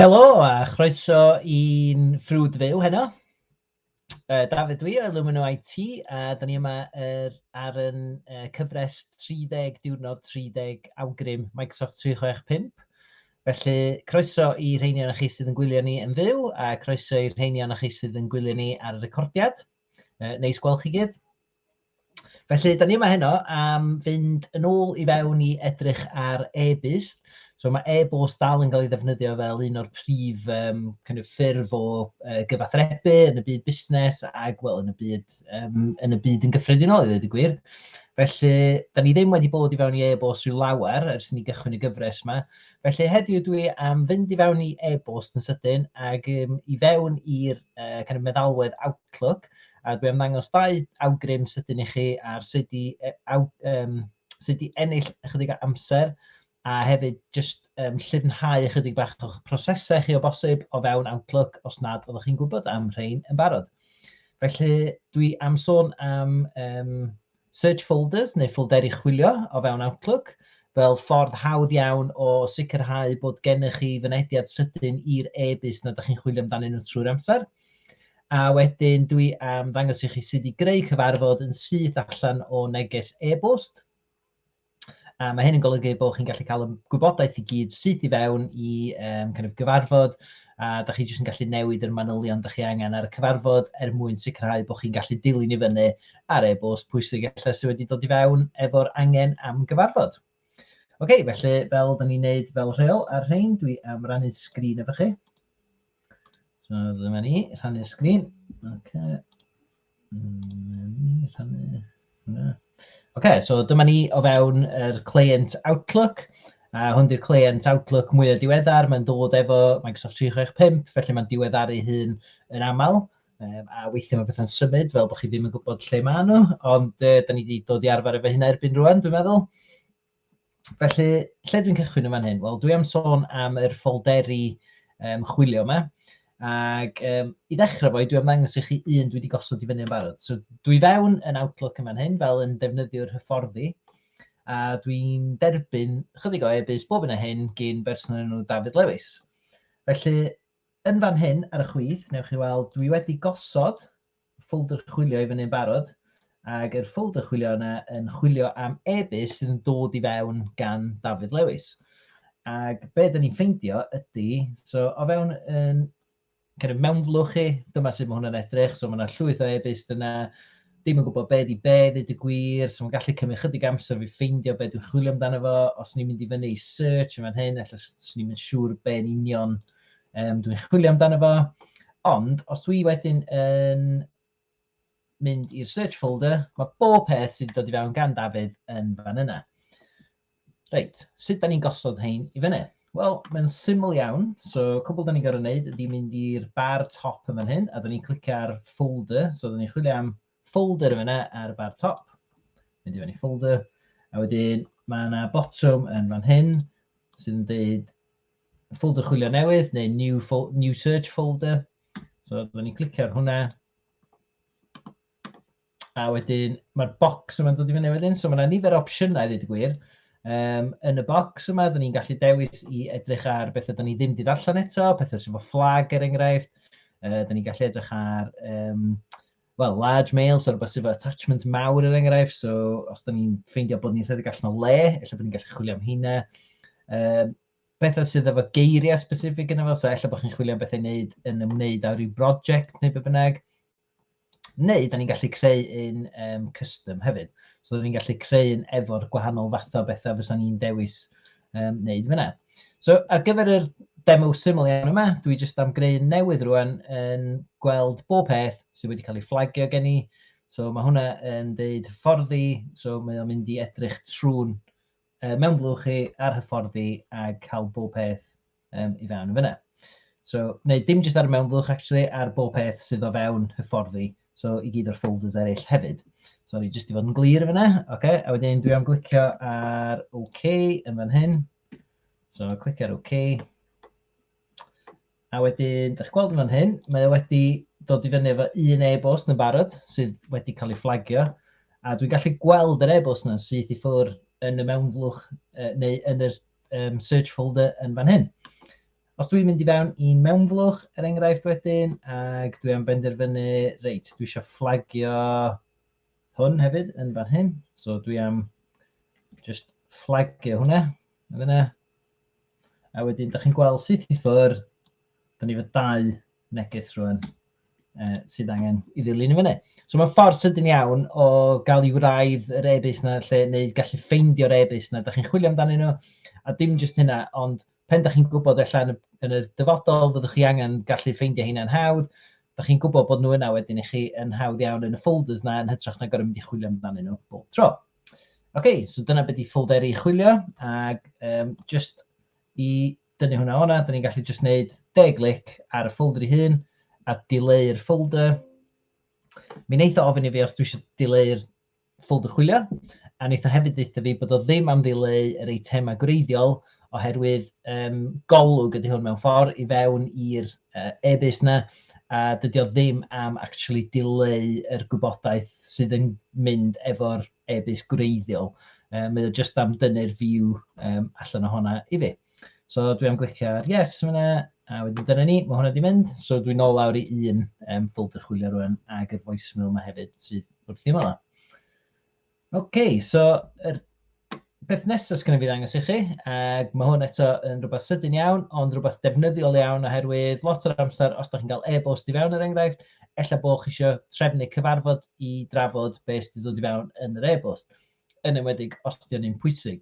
Helo a chroeso i'n ffrwd fyw heno. Uh, Dafydd dwi o Illumino IT a da ni yma er, ar yn uh, cyfres 30 diwrnod 30 awgrym Microsoft 365. Felly croeso i rheini o'n chi sydd yn gwylio ni yn fyw a croeso i rheini o'n chi sydd yn gwylio ni ar y recordiad. Uh, neis gweld chi gyd. Felly, da ni yma heno am fynd yn ôl i fewn i edrych ar e-bust. So mae e-bost dal yn cael ei ddefnyddio fel un o'r prif um, kind of, ffurf o uh, gyfathrebu yn y byd busnes ac well, yn, y byd, um, yn y byd yn gyffredinol i ddweud y gwir. Felly, da ni ddim wedi bod i fewn i e-bost rhyw lawer ers ni gychwyn y gyfres yma. Felly heddiw dwi am fynd i fewn i e-bost yn sydyn ac um, i fewn i'r uh, kind of meddalwedd Outlook A dwi am ddangos dau awgrym sydyn i chi ar sut i, e, aw, um, sut i ennill ychydig o amser a hefyd jyst um, llifnhau ychydig bach o'ch prosesau chi o bosib o fewn Outlook os nad oeddech chi'n gwybod am rhain yn barod. Felly dwi am sôn am um, Search Folders neu ffolderi chwilio o fewn Outlook fel ffordd hawdd iawn o sicrhau bod gennych chi fynediad sydyn i'r e-byst nad ydych chi'n chwilio amdanyn nhw trwy'r amser. A wedyn dwi am ddangos i chi sut i greu cyfarfod yn syth allan o neges e-bost. A mae hyn yn golygu bod chi'n gallu cael y gwybodaeth i gyd syth i fewn i um, kind of gyfarfod, a da chi jyst yn gallu newid yr manylion da chi angen ar y cyfarfod er mwyn sicrhau bod chi'n gallu dilyn i fyny ar e-bost pwysig efallai sydd wedi dod i fewn efo'r angen am gyfarfod. Oce, okay, felly fel da ni'n neud fel rheol ar rhain, dwi am rannu sgrin efo chi. So dyma ni, rhannu'r sgrin. Okay. Mm, rhannu. OK, so dyma ni o fewn yr client Outlook. A hwn di'r client Outlook mwyaf diweddar, mae'n dod efo Microsoft 365, felly mae'n diweddaru hun yn aml. Um, a weithio mae bethau'n symud fel bod chi ddim yn gwybod lle maen nhw, ond uh, da ni wedi dod i arfer efo hynna erbyn rwan, dwi'n meddwl. Felly, lle dwi'n cychwyn yn fan hyn? Wel, dwi am sôn am yr ffolderi um, chwilio yma. Ac um, i ddechrau fo, dwi am ddangos i chi un dwi wedi gosod i fyny yn barod. So, dwi fewn yn Outlook yn fan hyn, fel yn defnyddio'r hyfforddi. A dwi'n derbyn chydig o e-bus bob yn y hyn gyn berson enw David Lewis. Felly, yn fan hyn ar y chwith, newch chi weld, dwi wedi gosod ffolder chwilio i fyny'n barod, ac yr ffolder chwilio yna yn chwilio am e-byst sydd yn dod i fewn gan Dafydd Lewis. Ac be dyn ni'n ffeindio ydy, so o fewn yn kind of mewnflwch chi, dyma sut mae hwnna'n edrych, so mae yna llwyth o e-byst yna, dim yn gwybod be di be, ddweud y gwir, so mae'n gallu cymryd chydig amser fi ffeindio be dwi'n chwilio amdano fo, os ni'n mynd i fyny i search yn fan hyn, efallai swn ni'n mynd siŵr be'n union Um, dwi'n chwilio amdano fo. Ond, os dwi wedyn yn mynd i'r search folder, mae bob peth sydd wedi dod i fewn gan Dafydd yn fan yna. Reit, sut da ni'n gosod hein i fyny? Wel, mae'n syml iawn. So, cwbl da ni'n gorau wneud ydy mynd i'r bar top yn fan hyn, a da ni'n clicio ar folder. So, da ni'n chwilio am folder yn fyna ar y bar top. Mynd i fyny folder. A wedyn, mae yna botwm yn fan hyn sydd yn dweud ffolder chwilio newydd neu new, new search folder. So byddwn ni'n clicio ar hwnna. A wedyn mae'r bocs yma'n dod i fyny wedyn. So mae yna nifer o opsiynau i ddweud y gwir. Um, yn y bocs yma, dyn ni'n gallu dewis i edrych ar bethau dyn ni ddim wedi allan eto, pethau sy'n fo fflag er enghraifft. Uh, dyn ni'n gallu edrych ar um, wel, large males, so rhywbeth sydd efo attachment mawr er enghraifft, so os da ni'n ffeindio bod ni'n rhedeg allan o le, efallai bod ni'n gallu chwilio am hynna. Um, bethau sydd efo geiriau specific yna fo, so efallai bod chi'n chwilio am bethau wneud yn ymwneud â rhyw brosiect neu be bynnag. Neu, da ni'n gallu creu un um, custom hefyd. So, da ni'n gallu creu un efo'r gwahanol fathau bethau fysa ni'n dewis um, wneud fyna. So ar gyfer yr demo syml iawn yma, dwi jyst am greu newydd rwan yn gweld bob peth sydd wedi cael ei fflagio gen i. So mae hwnna yn deud hyfforddi, so mae o'n mynd i edrych trwy'n uh, mewn blwch chi ar hyfforddi a cael bob peth um, i fewn yn fyna. So, neu dim jyst ar y mewnflwch, actually, ar bob peth sydd o fewn hyfforddi, so i gyd o'r folders eraill hefyd. Sorry, jyst i fod yn glir yn fyna, oce, okay, a wedyn dwi am glicio ar OK yn fan hyn. So, clicio ar OK. A wedyn, da chi'n gweld yn fan hyn, mae o wedi dod i fyny efo un e-bost yn barod sydd wedi cael ei fflagio a dwi'n gallu gweld yr e-bost yna syth i ffwr yn y mewnflwch uh, neu yn y um, search folder yn fan hyn. Os dwi'n mynd i fewn i mewnflwch, er enghraifft wedyn, ac dwi am benderfynu, reit, dwi eisiau fflagio hwn hefyd yn fan hyn. So dwi am just fflagio hwnna. Yn fyna. A wedyn, da chi'n gweld sut i ffwrdd, da ni fod dau neges rhywun uh, sydd angen i ddilyn i fyny. So mae'n ffordd sydyn iawn o gael i wraidd yr e-bus na lle, neu gallu ffeindio'r e-bus na, da chi'n chwilio amdano nhw, a dim jyst hynna, ond pen da chi'n gwybod efallai yn y, yn y dyfodol fyddwch chi angen gallu ffeindio hynna'n hawdd, da chi'n gwybod bod nhw yna wedyn i chi yn hawdd iawn yn y folders na yn hytrach na gorau mynd i chwilio amdano nhw bob tro. Oce, okay, so dyna beth i ffolderi chwilio, ac um, just i dynnu hwnna o'na, da ni'n gallu jyst wneud de glic ar y ffoldr ei hun a dileu'r ffoldr. Mi wneitha ofyn i fi os dwi eisiau dileu'r ffoldr chwilio, a wneitha hefyd ddeitha fi bod o ddim am ddileu yr eitemau gwreiddiol oherwydd um, golwg ydy hwn mewn ffordd i fewn i'r uh, e-bus na, a dydy o ddim am actually dileu yr gwybodaeth sydd yn mynd efo'r e-byst gwreiddiol. Um, mae o jyst am dynnu'r view um, allan o honna i fi. So dwi am glicio ar yes fyna, a wedyn dyna ni, mae hwnna wedi mynd. So dwi'n ôl lawr i un um, folder chwilio rwan ag y voicemail yma hefyd sydd wrth i yma. OK, so yr Peth nesaf sydd genna fi ddangos i chi, ac mae hwn eto yn rhywbeth sydyn iawn, ond rhywbeth defnyddiol iawn oherwydd lot o'r amser os da chi'n cael e-bost i fewn er enghraifft, ella bod chi eisiau trefnu cyfarfod i drafod beth sydd wedi dod i fewn yn yr e-bost, yn enwedig os ydy o'n un pwysig.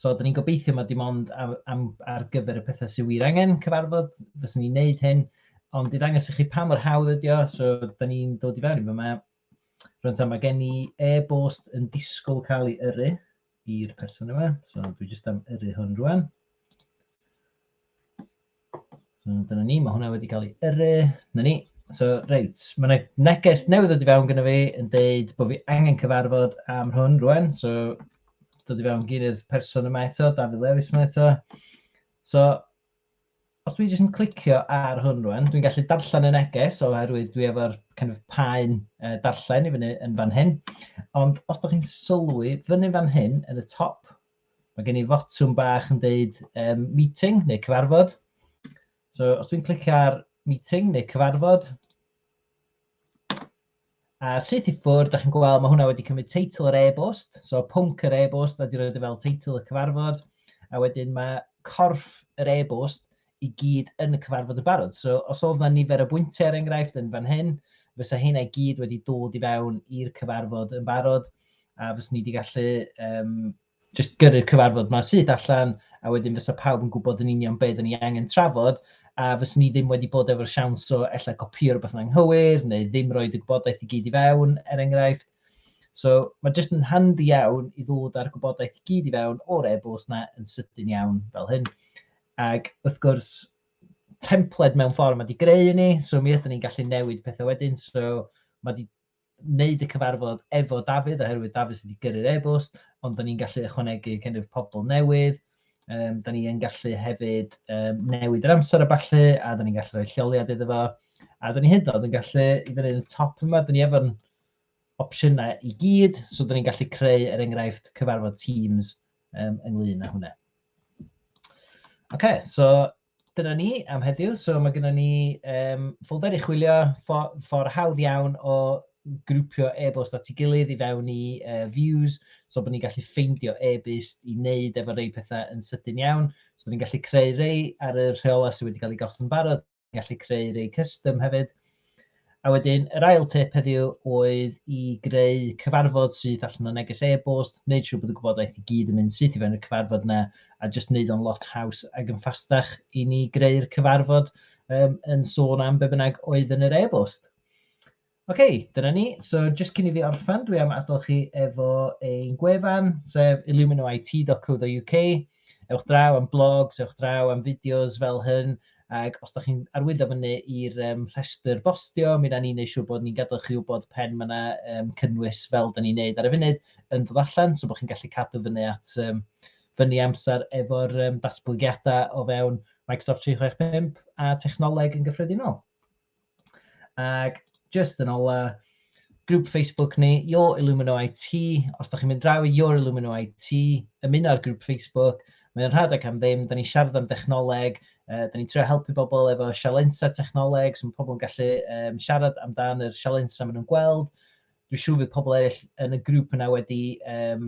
So, da ni'n gobeithio mae dim ond am, am, ar gyfer y pethau sydd wir angen cyfarfod, fyswn ni'n neud hyn, ond i ddangos i chi pa mor hawdd ydy o, so da ni'n dod i fewn i fe yma, Rwy'n tam, mae gen i e-bost yn disgwyl cael ei yrru i'r person yma. So, dwi jyst am yrru hwn rwan. So, dyna ni, mae hwnna wedi cael ei yrru. Na ni. So, reit, mae yna neges newydd wedi fewn gyda fi yn dweud bod fi angen cyfarfod am hwn rwan. So, dod i fewn gyn i'r person yma eto, Dafydd Lewis yma eto. So, Os dwi jyst yn clicio ar hwn rwan, dwi'n gallu darllen y neges oherwydd dwi efo'r kind of paen uh, darllen i fyny yn fan hyn. Ond os da chi'n sylwi fyny fan hyn, yn y top, mae gen i fotwm bach yn deud um, meeting neu cyfarfod. So os dwi'n clicio ar meeting neu cyfarfod, A sut i ffwrdd, da chi'n gweld, mae hwnna wedi cymryd teitl yr e-bost, so pwnc yr e-bost, a di roed e fel teitl y cyfarfod, a wedyn mae corff yr e-bost i gyd yn y cyfarfod y barod. So os oedd yna nifer o bwyntiau er enghraifft yn fan hyn, fysa hynna i gyd wedi dod i fewn i'r cyfarfod yn barod, a fys ni wedi gallu um, jyst gyrru'r cyfarfod yma syth allan, a wedyn fysa pawb yn gwybod yn union beth ni angen trafod, a fyswn ni ddim wedi bod efo'r siawns o ella gopio rhywbeth yn anghywir, neu ddim rhoi dy gwybodaeth i gyd i fewn, er enghraifft. So mae jyst yn handi iawn i ddod â'r gwybodaeth i gyd i fewn o'r e-bost na yn sydyn iawn fel hyn. Ac wrth gwrs, templed mewn ffordd mae wedi greu i ni, so mi ydyn ni'n gallu newid pethau wedyn, so mae wedi wneud y cyfarfod efo Dafydd oherwydd Dafydd sydd wedi gyrru'r e-bost, ond da ni'n gallu ychwanegu kind of pobl newydd, um, da ni'n gallu hefyd um, newid yr amser a ballu, a da ni'n gallu rhoi lleoliad iddo fo, a da ni hyd yn gallu, i fyny yn y top yma, da ni efo'n opsiynau i gyd, so da ni'n gallu creu er enghraifft cyfarfod Teams um, ynglyn â hwnna. OK, so dyna ni am heddiw. So mae gennym ni um, ffolder i chwilio, ffordd for hawdd iawn o grwpio e-bost at ei gilydd i fewn i uh, views, so bod ni'n gallu ffeindio e-byst i wneud efo rei pethau yn sydyn iawn. So ni'n gallu creu rei ar y rheolau sydd wedi cael ei gosod yn barod, ni'n gallu creu rei custom hefyd. A wedyn, yr ail tip heddiw oedd i greu cyfarfod sydd allan o neges e-bost, wneud siŵr bod y gwybodaeth i gyd yn mynd syth i fewn i'r cyfarfod yna, a jyst wneud o'n lot haws ac yn ffastach i ni greu'r cyfarfod um, yn sôn am be bynnag oedd yn yr e-bost. Oce, okay, dyna ni. So, jyst cyn i fi orffan, dwi am adael chi efo ein gwefan, sef illuminit.co.uk. Ewch draw am blogs, ewch draw am fideos fel hyn, ac os da chi'n arwyddo fyny i'r um, rhestr bostio, mi da ni'n gwneud siŵr bod ni'n gadael chi wybod pen mae yna um, cynnwys fel da ni'n gwneud ar y funud yn dod allan, so bod chi'n gallu cadw fyny at um, fyny amser efo'r um, datblygiadau o fewn Microsoft 365 a technoleg yn gyffredinol. Ac just yn ola, grŵp Facebook ni, Your Illumino IT. Os da chi'n mynd draw i Your Illumino IT, ymuno ar grŵp Facebook, mae o'n rhad ac am ddim, da ni'n siarad am dechnoleg, uh, da ni'n trio helpu bobl efo sialensa technoleg, so mae pobl yn gallu um, siarad amdan yr sialensa maen nhw'n gweld. Dwi'n siŵr fydd pobl eraill yn y grŵp yna wedi um,